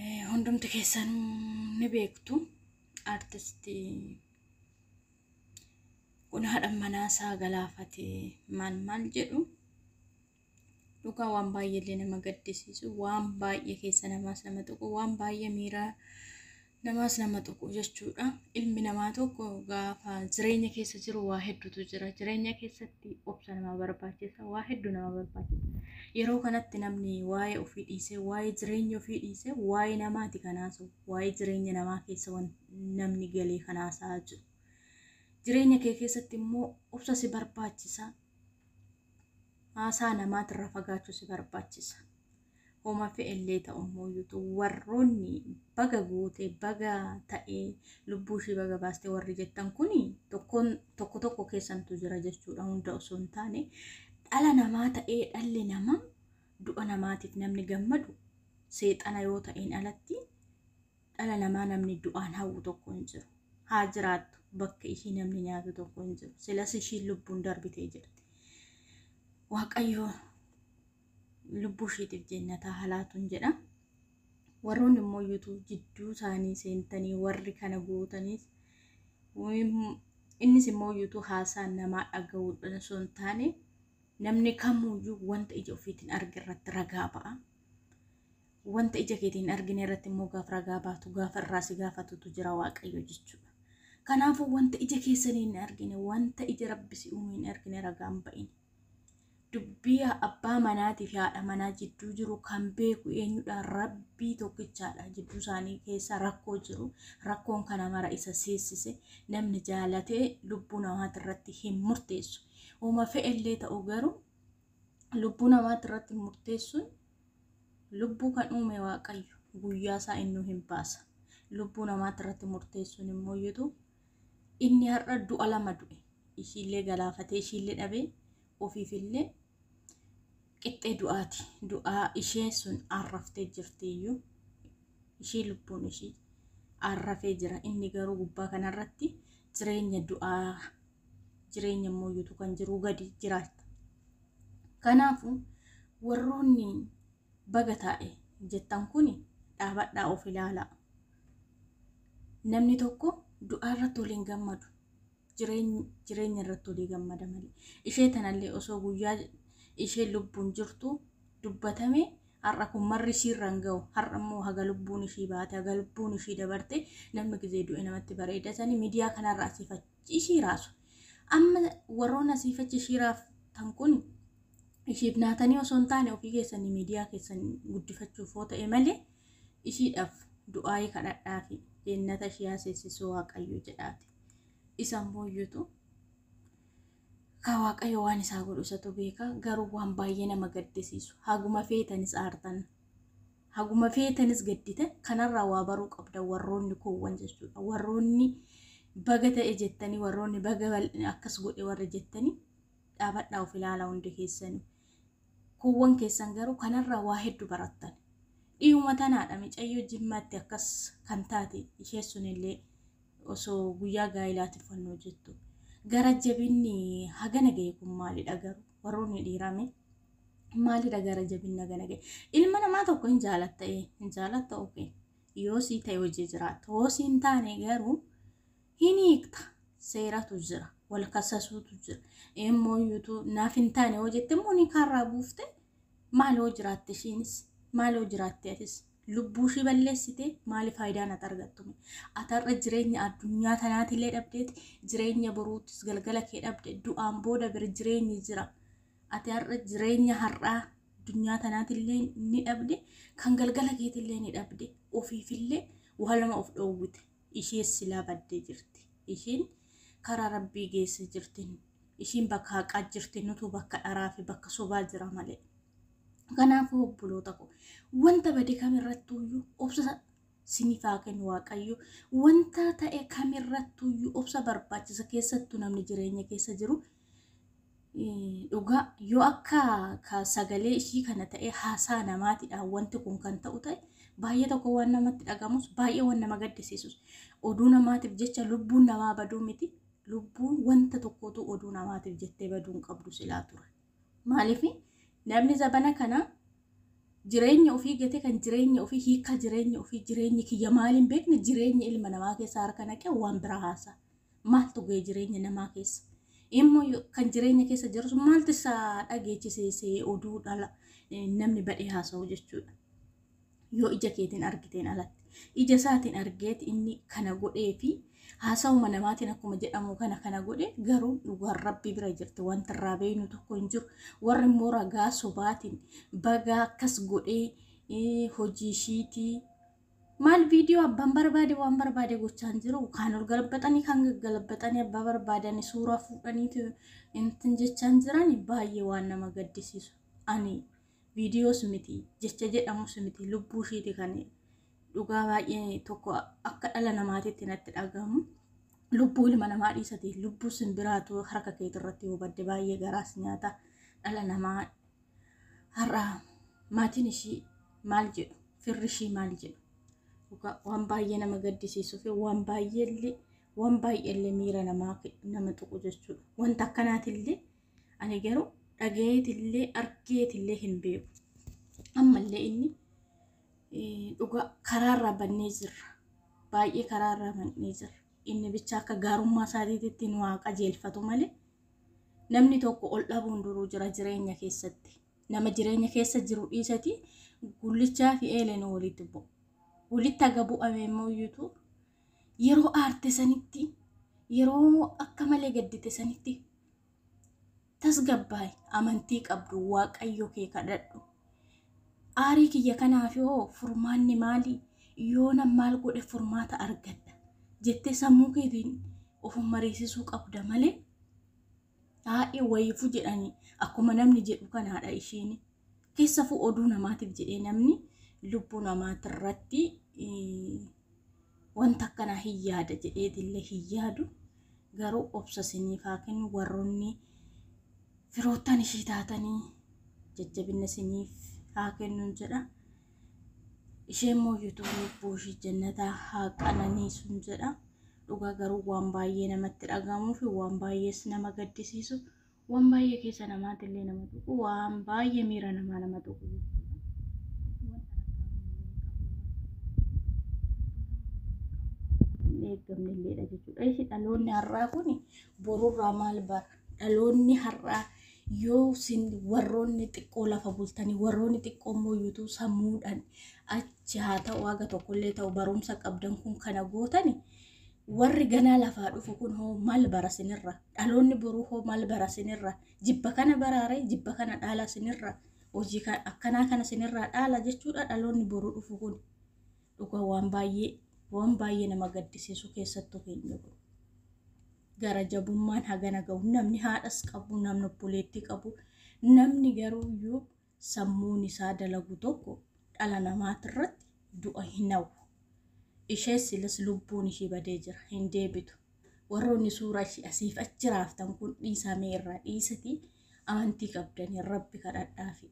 Eh, Hundumti keessanuu ni beektu artisti kun haadha manaa isaa galaafate maal maal jedhu dhugaa waan baay'ee illee nama gaddisiisu waan baay'ee keessa namaas nama tuqu waan baay'ee miira namaas nama tuqu jechuudha ilmi namaa tokko gaafa jireenya keessa jiru waa hedduutu jira jireenya keessatti keessatti obsa nama barbaachisa waa hedduu nama barbaachisa yeroo kanatti namni waa'ee ofii dhiisee waa'ee jireenya ofii dhiisee waa'ee namaati kan haasa'u waa'ee jireenya namaa keessa wan namni galee kan haasa'aa jiru jireenya kee keessatti immoo obsa si barbaachisa haasaa namaatirra fagaachuu si barbaachisa homa fe'ellee ta'ummoo yutu warroonni baga goote baga ta'e lubbuu ishii baga baaste warri jettan kun tokkoon tokko tokko keessantu jira jechuudha hunda osoo hin taane dhala namaa ta'ee dhalli namaa du'a namaatiif namni gammadu seexana yoo ta'een alatti dhala namaa namni du'aan hawwu tokko hin jiru haa jiraattu bakka ishii namni nyaatu tokko hin jiru silas ishiin lubbuun darbitee jirti waaqayyoo lubbuu ishiitiif jennataa halaatuun jedha. Warroonni immoo yuutuuf jidduu isaanii seentanii warri kana gootaniis innis immoo yuutuu haasaa namaa dhaga'uudhaan osoo hin taane namni kamuyyuu wanta ija ofiitiin arge irratti ragaa ba'a. Wanta ija keetiin argine irratti immoo gaaf ragaa baatu gaafa irraa si gaafatutu jira waaqayyo jechuudha. Kanaafuu wanta ija keessanii hin argine wanta ija rabbi si uume hin argine ragaan ba'in. Dubbii abbaa manaatii fi haadha manaa jidduu jiru kan beeku eenyudha? Rabbii tokkichaadha. Jidduu isaanii keessa rakkoo jiru. Rakkoon kana mara isa seessise. Namni jaalatee lubbuu namaati irratti hin murteessu. Uma fe'ellee ta'u garuu lubbuu namaati irratti murteessuun lubbuu kan uume waaqayyo guyyaa isaa innuu hin baasa. Lubbuu namaati irratti murteessuun immoo iyyutu Inni har'a du'a lama du'e. Ishiillee galaafatee ishiillee dhabee ofiifillee qixxee du'aati. Du'aa ishee sun arraftee jirtiyyuu. Ishii lubbuun ishii arrafee jira. Inni garuu gubbaa kanarratti jireenya du'aa jireenya mooyyuutu kan jiruu gadi jiraata. Kanaafuu warroonni Baga taa'e jettan kuni dhaabadhaa of ilaalaa. Namni tokko du'aa irratti wal hin gammadu. Jireeny- Jireenya irratti walii gammada malee. Ishee tanallee osoo guyyaa isheen lubbuun jirtu dubbatame har'a kun marri ishii irra hin ga'u. Har'a immoo haga lubbuun ishii baate, haga lubbuun ishii dabarte namni gizee du'e namatti bareeda sani miidiyaa kanarra asiifachuu. ishii raasu. Amma warroon asii fi achi ishii raaftan kun ishiif naatanii osoo hin taane ofii keessanii miidiyaa keessan guddifachuuf yoo ta'e malee ishiidhaaf du'aayii kadhadhaa fi jennata ishii haasessisuu waaqayyo jedhaati. Isa immoo iyyutu ka waaqayyo waan isaa godhu isatu beeka garuu waan baay'ee nama gaddisiisu haguma feetanis aartan Haguma feetanis gaddita. Kanarraa waa baruu qabda warroonni koowwan jechuudha. Warroonni baga ta'e jettanii warroonni baga bal'ina akkas godhe warri jettanii dhaabadhaa of ilaalaa hundi keessanii. Koowwan keessan garuu kanarraa waa hedduu barattan. Dhiyuma tanaadha micayyoo jimmaatti akkas kan taate ishee sunillee osoo guyyaa gaa'ilaatiin fannoo jettu. Gara jabinni hagana ga'e kun maalidha garuu? warroonni dhiiraame maalidha gara jabinna gana ga'e ilma namaa tokko hin jaalatta ee hin jaalatta oke yoo sii ta'e hojii jiraatta hoo siin taane garuu hin hiikta seeratu jira wal kasasuutu jira immoo yuutu naaf hin taane hoo jette immoo ni kaarraa buufte maal hoo jiraatte ishiinis maal hoo jiraatte atis lubbuu ishii balleessite maali faayidaan ati argattume ati har'a jireenya addunyaa tanaatillee dhabdeeti jireenya boruutis galgala kee dhabde du'aan booda bira jireenyi jira ati har'a jireenya har'aa addunyaa tanaatillee ni dhabde kan galgala keetillee ni dhabde ofiifillee waa lama of dhoowwite ishee silaa baddee jirti ishiin karaa rabbii geessa jirti ishiin bakka haqaa jirti nutu bakka dharaa fi bakka sobaa jira malee Kanaafuu obboloota koo wanta bade kamirrattuyyuu obsa siniif haa kennu Waaqayyo. Wanta ta'e kamirrattuyyuu obsa barbaachisa keessattuu namni jireenya keessa jiru eh, dhugaa yoo akka ka sagalee ishii kana ta'e haasaa namaatidhaan wanti kun kan ta'u ta'e baay'ee tokko waan namatti dhagamus baay'ee waan nama gaddisiisus oduu namaatiif jecha lubbuun namaa baduu miti lubbuun wanta tokkotu oduu namaatiif jettee baduu hin qabdu silaa ture. Maaliif namni zabana kana jireenya ofii gate kan jireenya ofii hiikaa jireenya ofii jireenyi kiyya maaliin beekne jireenya ilma namaa keessa harka naqee waan biraa haasa. Maaltu ga'e jireenya namaa keessa? Immoo yo- kan jireenya keessa jirus maaltu isaa dhageechise see oduu dhala eh, namni badhee haasa'u jechuudha. yoo ija keetiin argiteen alatti ija isaatiin argeet inni kana godhee fi haasawuma namaatiin akkuma jedhamu kana kana godhe garuu dhugaan rabbii bira jirti wanti irraa beeynu tokko hin jiru warri immoo ragaa sobaatiin bagaa akkas godhee eh, hojii ishiitii maal viidiyoo abbaan barbaade waan barbaade gochaan jiru kaan ol galabbaxanii kaan gaggalabbaxanii abbaa barbaadanii suuraa fuudhaniitu intin jechaan jiran baay'ee waan nama gaddisiisu ani Viidiyoos miti, jecha jedhamus miti, lubbuu ishiiti kan dhugaa baay'ee tokko akka dhala namaatiitti natti dhagahamu. Lubbuu ilma namaa dhiisati lubbuu simbiraatu harka keetii irratti yoo badde baay'ee garaas nyaata dhala namaa har'a maatiin ishii maal jedhu firri ishii maal jedhu dhugaa waan baay'ee nama gaddisiisuu fi waan baay'eellee waan baay'eellee miira namaa nama tuqu jechuudha. Wanta akkanaatillee Ani garuu dhagayeetillee argeetillee hin beeku. Ammallee inni dhugaa karaarraa bannee jirra. Baay'ee karaarraa bannee jirra. Inni bicha akka gaarummaa isaatiitti nu haa qajeelfatu malee namni tokko ol dhabuun duruu jira jireenya keessatti. Nama jireenya keessa jiru dhiisati gullichaa fi eeleen walitti bu'a. Walitti haga bu'ame immoo iyyutu Yeroo aarte sanitti, yeroo akka malee gaddite sanitti tasgabbaa'i, amantii qabdu Waaqayyo kee kadhadhu. Aarii kiyya kanaaf hoo furmaanni maali? Yoona maal godhe furmaata argadha? jettee sammuu keetiin of mariisisuu qabda malee haadhi wayifu jedhanii akkuma namni jedhu kanaadha ishiin. Keessafuu oduu namaatiif jedhee namni lubbuu namaatirratti wanta akkanaa hin yaada jedheetillee hin yaadu. Garuu obsa isiniif haa kennu warroonni firoottan ishii taatanii jajjabina isiniif haa kennuun jedha. Ishee immoo yuutuun lubbuu ishii jannataa haa qananiisuun jedha. Dhugaa garuu waan baay'ee namatti dhagahamuu fi waan baay'ees nama gaddisiisu waan baay'ee keessa namaatti illee nama tuqu waan baay'ee miira namaa nama tuqu eeggamne illeedha jechuudha. Isi dhaloonni har'aa kun borurraa maal bara? Dhaloonni har'aa yoo sin warroonni xiqqoo lafa bultanii warroonni xiqqoo immoo yuutuu sammuudhaan achi haa ta'u haga tokkollee ta'u barumsa qabdan kun kana gootani warri ganaa lafaa dhufu kun hoo maal bara sinirra dhaloonni boruu hoo maal bara sinirra jibba kana baraare jibba kana dhaala sinirra hojii ka- akkanaa kana sinirraa dhaala jechuudha dhaloonni boruu dhufu kun dhugaa waan baay'ee waan baay'ee nama gaddisiisu keessattuu keenya kun gara jabummaan hagana ga'u namni haadhas qabu namni obboleettii qabu namni garuu iyyuu sammuun isaa dalagu tokko dhala namaatirratti du'a hin hawwu. Ishee silas lubbuun ishii badee jira, hin deebitu. Warroonni suuraa ishii asiif achi raaftan kun dhiisaa mee irraa dhiisatii amantii qabdanii rabbi kadhadhaafi.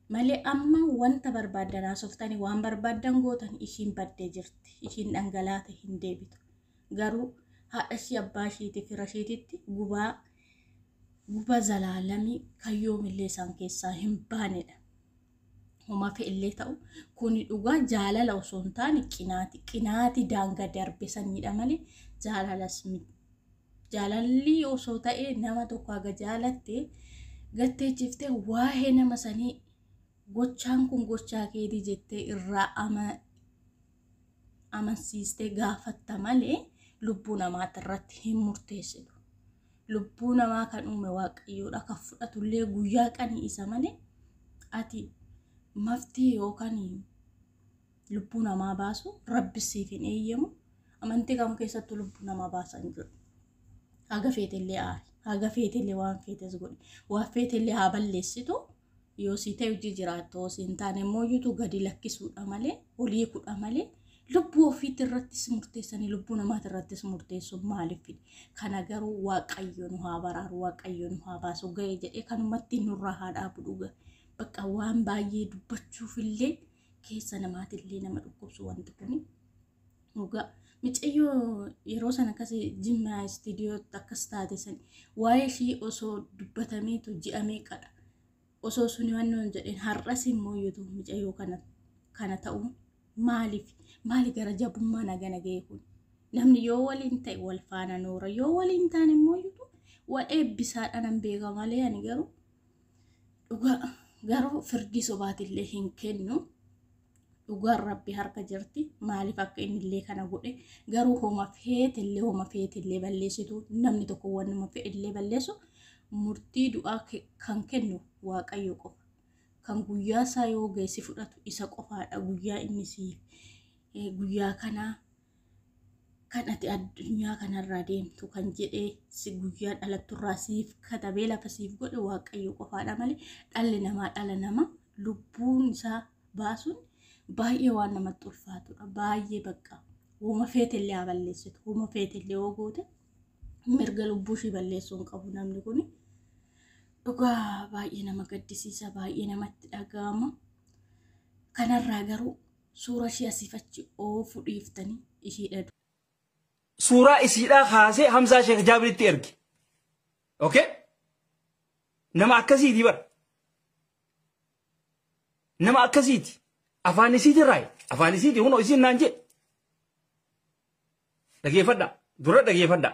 Malee amma wanta barbaaddan haasoftanii waan barbaaddan gootan ishiin baddee jirti, ishiin dhangalaate hin deebitu. Garuu haadha ishii abbaa ishiitii fira ishiititti gubaa guba zalaalamii kan yoomillee isaan keessaa hin baanedha. Homa fe'ellee ta'u kuni dhugaa jaalala osoo hin taane qinaati. Qinaati daanga darbe saniidha malee jaalalas miti. Jaalalli osoo ta'e nama tokko haga jaalatte gattee ciftee waa'ee nama sanii gochaan kun gochaa keetii jettee irraa ama amansiistee gaafatta malee lubbuu namaati irratti hin murteessitu. Lubbuu namaa kan uume waaqayyoodha kan fudhatullee guyyaa qanii isa malee ati maftee yookaan lubbuu namaa baasu rabbi siif hin eeyyamu amantii kam keessattuu lubbuu namaa baasan jiru. Haga feetellee aari. Haga feetellee waan feetes godhi. Waan feetellee haa balleessitu. yoo sii ta'e hojii jiraattu yoo siin taane immoo yuutu gadi lakkisuudha malee olii kudha malee lubbuu ofiitti irrattis murteessanii lubbuu namaati irrattis murteessu maaliif kana garuu waaqayyo nu haa baraaru waaqayyo nu haa baasu ga'e jedhee kanumatti nurraa haa dhaabu dhuga bakka waan baay'ee dubbachuuf illee keessa namaatillee nama dhukkubsu wanti kuni. Dhugaa. Micayyoo yeroo sana akkas jimmaa istiidiyootti akkas taate san waa'ee ishii osoo dubbatameetu ji'a meeqadha. Osoo suni wannoon jedheen har'as immoo yuutu micayyoo kana kana ta'u maaliif maali gara jabummaa nagana ga'e kun. Namni yoo waliin ta'e wal faana noora yoo waliin ta'an immoo yuutu wal eebbisaadhaan beeka malee ani garuu dhugaa garuu firdii sobaatillee hin kennu. dhugaan rabbi harka jirti maaliif akka inni illee kana godhe garuu homa feete illee homa feete illee balleessitu namni tokko wannuma fedhe illee balleessu murtii du'aa ke- kan kennu waaqayyo qofa kan guyyaa isaa yoo geessi fudhatu isa qofaadha guyyaa inni siif eh, guyyaa kanaa kan ati addunyaa kanarraa deemtu kan jedhee si guyyaa dhalatturraa siif katabee lafa siif godhe waaqayyo qofaadha malee dhalli namaa dhala nama lubbuun isaa baasuun baay'ee waan namatti ulfaatudha baay'ee bakka woma feetellee haa balleessitu woma feetellee yoo goote mirga lubbuu ishii balleessuu hin qabu namni kun dhugaa baay'ee nama gaddisiisa baay'ee namatti dhaga'ama kanarraa garuu Suura ishii asiif achi oofu dhiiftanii ishii dhadu. Suuraa isiidhaa kaasee Hamzaa Sheekh Jaabiritti erge. Okay? Nama akkasiiti bara. Nama akkasiiti. Afaan isiiti raayi. Afaan isiiti hunoo isiin naan jedhe. Dhageeffadhaa. Dura dhageeffadhaa.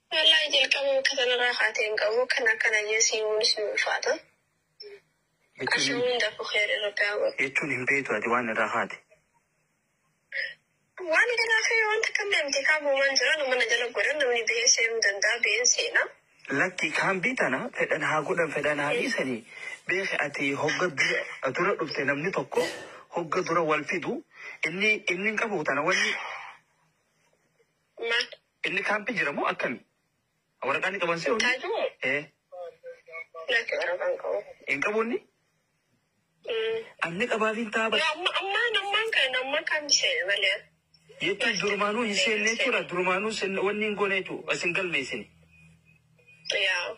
Wallaahi jalqaba bakka sanarraa kaatee hin qabu kan akkana jee siimuunis ni ulfaata. Asha hunda ku kheer irra gaaba. Jechuun hin beektu ati waan irraa kaate. Waan irraa kee waan takka hin beekte kaa buumaan jira nama na jala godhan namni bahee seenuu danda'a baheen seena. Lakki kaan biitana fedhan haa godhan fedhan haa dhiisanii beeki ati hogga dura dura dhufte namni tokko hogga dura wal fidu inni inni hin qabu tana wanni Maal? Inni kaampii jira moo akkami? Waraqaa ni qaban se'u? Taaju moo? Eh. Laata waraqaan qabu. Hin qabu inni? Anni qabaafiin taaba. Ammaan ammaan kan ammaa kan seene malee. Jechuun durumaanuu hin seenne jechuudha. Durumaanuu wanni hin goone jechuudha. Isin galmeessine. Yaa.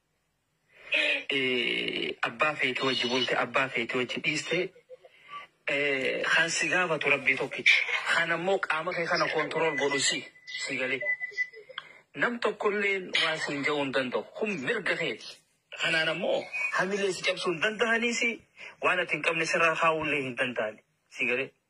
abbaa feete wajji bulte abbaa feete wajji dhiiste kan si gaafatu rabbii tokkicha kan ammoo qaama kee kana koontirool godhu si si galee nam tokkollee waan siin ja'uu hin danda'u kun mirga keeti kanaan ammoo hamilee si cabsuu hin danda'anii si waan ati hin qabne sirraa kaa'ullee hin danda'ani si galee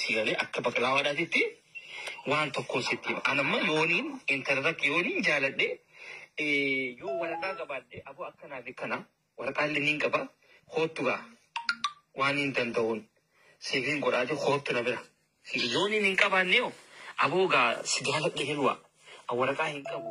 Si galee akka baqlaawaadhaatitti waan tokkoon sitti hima. An amma yooniin intarratti yooniin jaaladhe eh, yoo waraqaa qabaadhe aboo akkanaa fi kana waraqaa illee niin qaba koottu gaa waan hin danda'uun siif hin godhaati koottu na bira. Yooniin hin qabaanne hoo aboo gaa si jaaladhe hilwa an waraqaa hin qabu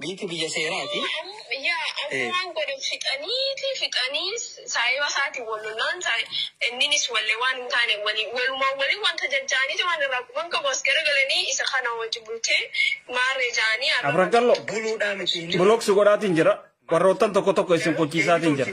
Biyyiti biyya seeraati. Yaa amma waan godhan fixaniiti fixanii saayiba isaatiin wal lollaan inninis wallee waan hin taane walii walumaan walii wanta jajjaaniiti waan irraa quban qabu as garagalanii isa kana wajji bultee maarree jaanii arra Abradallo buluudhaa miti. bulooksi godhaatiin jira. Warroottan tokko tokko isin qochiisaatiin jira.